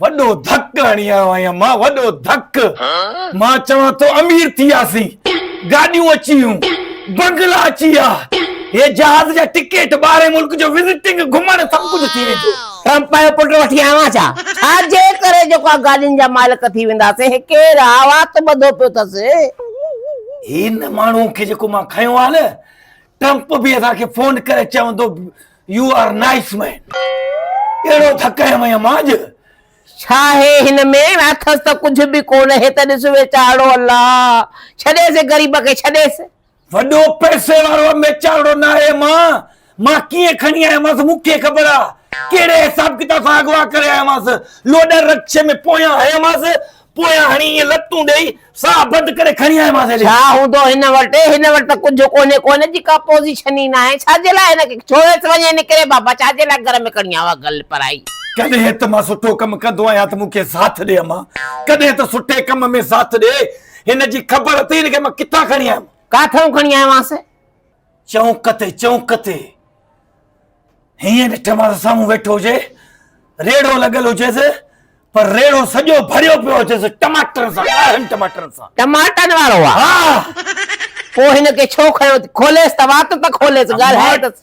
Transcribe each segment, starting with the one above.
وڏو ڌڪ هڻي آيو آهيان مان وڏو ڌڪ مان چوان ٿو امير ٿي وياسين گاڏيون اچي ويون بنگلا اچي ويا هي جهاز جا ٽڪيٽ ٻاهرين ملڪ جو وزٽنگ گهمڻ سڀ ڪجهه ٿي ويندو ٽرمپ جو پٽ وٺي آيو آهيان ڇا ڇا جي ڪري جيڪا گاڏين جا مالڪ ٿي وينداسين هي ڪير آ وات ٻڌو پيو اٿس. هن ماڻهوء کي جيڪو مان کنيو آهي نه ٽرمپ به اسان کي فون ڪري چوندو يو آر نائس مين اهڙو ڌڪ هنيم آهيان مان اڄ. ڇا هي هن ۾ اٿس ته ڪجهه به ڪونه هي ته ڏس ويچارڙو الله ڇڏيس غريب کي ڇڏيس. وڏو پئسي وارو ام ويچارڙو ناهي مان مان ڪيئن کڻي آيو مانس مون کي خبر آ ڪهڙي حساب ڪتاب سان اغوا ڪري آيو مانس لوڏا رڪشي ۾ پويان هيا مانس پويان هڻي ائين لتون ڏيئي، ساهه بند ڪري کڻي آيومانس هيڏي. ڇا هوندو هن وٽ؟ هن وٽ ته ڪجهه ڪونهي ڪو هن جي ڪا پوزيشن ئي ناهي. ڇا جي لاء هن کي ڇوڙيس وڃي هن ڪري بابا ڇا جي لاء گهر ۾ کڻي آيو آهي گل پرائي. ڪڏهن ته مان سٺو ڪم ڪندو آهيان ته مون کي ساٿ ڏي امان. ڪڏهن ته سٺي ڪم ۾ ساٿ ڏي. هن جي خبر اٿئي هن کي مان ڪٿان کڻي آيم. ڪاٿئون کڻي آيومانس؟ چونڪ تي چونڪ تي هيئن ڏٺ مان سامهون ويٺو هجي ريڙهو لڳل هجيس پر ريڙهو سڄو ڀريو پيو هجيس ٽماٽرن سان ڳاڙهن ٽماٽرن سان ٽماٽن وارو آ ها پوء هن کي ڇو کنيو کوليس ته وات ته کوليس ڳالهايس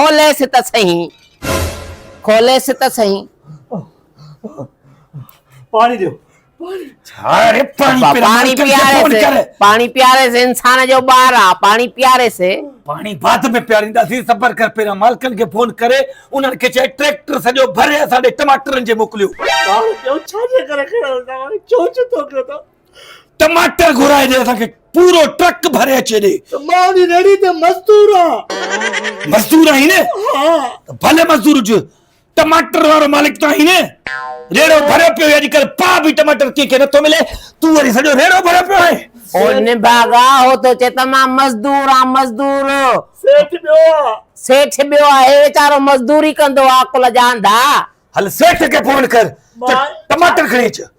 کوليس ته سهي کوليس ته سهي پاڻي ڏيو پاڻي پياريس پاڻي پياريس انسان جو ٻار آ پاڻي پياريس پاڻي بعد ۾ پيارينداسين صبر ڪر پهريان مالڪن کي فون ڪري انهن کي چئي ٽريڪٽر سڄو ڀري اسان ڏي ٽماٽرن جي موڪليو ٻار ٻيو ڇا جي ڪري کڻيو توهان چوچ ٿو ڪيو ته ٽماٽر گهرائي ڏي اسان کي پورو ٽرڪ ڀري اچي ڏي ته مان به ريڙهي تي مزدور آهيان مزدور آهين نه ها ته ڀلي مزدور هج ٽماٽر وارو مالڪ ته آهين نه ريڙهو ڀريو پيو اڄ ڪل پا به ٽماٽر ڪي کي نٿو ملي تون وري سڄو ريڙهو ڀريو پيو آهي هو نڀاڳا هو ٿو چي ته مان مزدور آهيان مزدور سيٺ ٻيو آهي سيٺ ٻيو آهي ويچارو مزدوري ڪندو آهي عقل جا انڌا هل سيٺ کي فون ڪر ته ٽماٽر کڻي اچ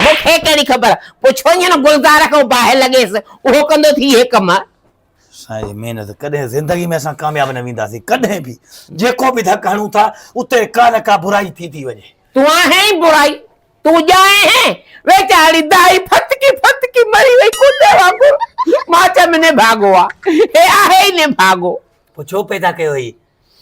مون کي ڪهڙي خبر، پڇوئينء نه گلزار کان باهه لڳيس، اهو ڪندو ٿي اهي ڪم. سائين جي محنت ڪڏهن زندگي ۾ اسان ڪامياب نه وينداسين ڪڏهن به جيڪو به ڌڪ هڻون ٿا اتي ڪا نه ڪا برائي ٿي ٿي وڃي. تون آهين ئي برائي، تون ڄائين هين. ويچاري دائي ڦٿڪي ڦٿڪي مري وئي ڪوڏي وانگر، مان چيم نڀاڳو آ، هي آهي ئي نڀاڳو. پڇو پيدا ڪيو هئي،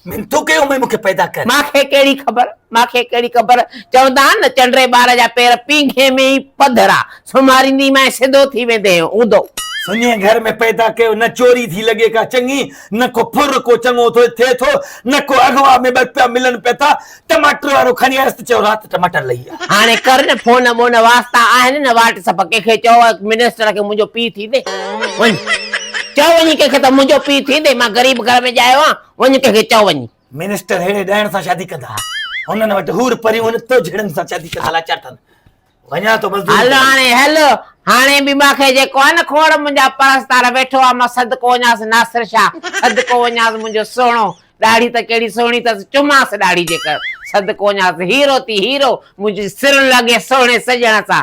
من تو ڪيو مئي مونکي پيدا ڪر. مان کي ڪهڙي خبر مان کي ڪهڙي خبر چوندا آهن نه چنڊري ٻار جا پير پينگهي ۾ ئي پڌرا سمهاريندي مئي سڌو ٿي ويندي هوندو. سڃي گهر ۾ پيدا ڪيو نه چوري ٿي لڳي ڪا چڱي نه ڪو ڦر ڪو چڱو ٿو ٿئي ٿو نه ڪو اغوا ۾ ٻه روپيا ملن پيا ٿا ٽماٽر وارو کڻي آيس ته چيو رات ٽماٽر لهي ويا. هاڻي ڪر نه فون ٻون واسطا آهن نه واٽ سپ ڪنهن کي چئو منسٽر کي منهنجو پيء ٿيندي وڃ چئو وڃي ڪنهن کي ته منهنجو پيء ٿيندي مان غريب گهر ۾ ڄايو آهيان وڃ ڪنهن کي چئو وڃي. منسٽر ههڙي ڏائڻ سان شادي ڪندا هنن وٽ حور پريون هن تو جهڙن سان شادي ڪندالاچار ٿن. وڃان ٿو مزدوري هل ڪرڻ. هاڻي هل. هاڻي به مان کي جيڪو آهي نه کوڙ منهنجا پرستار ويٺو آهي مان صدقو وڃانس ناصر شاهه صدقو وڃانس منهنجو سهڻو ڏاڙهي ته ڪهڙي سهڻي اٿس چمانس ڏاڙهي جيڪر صدقو وڃانس هيرو ٿي هيرو منهنجي سر لڳي سهڻي سڄڻ سان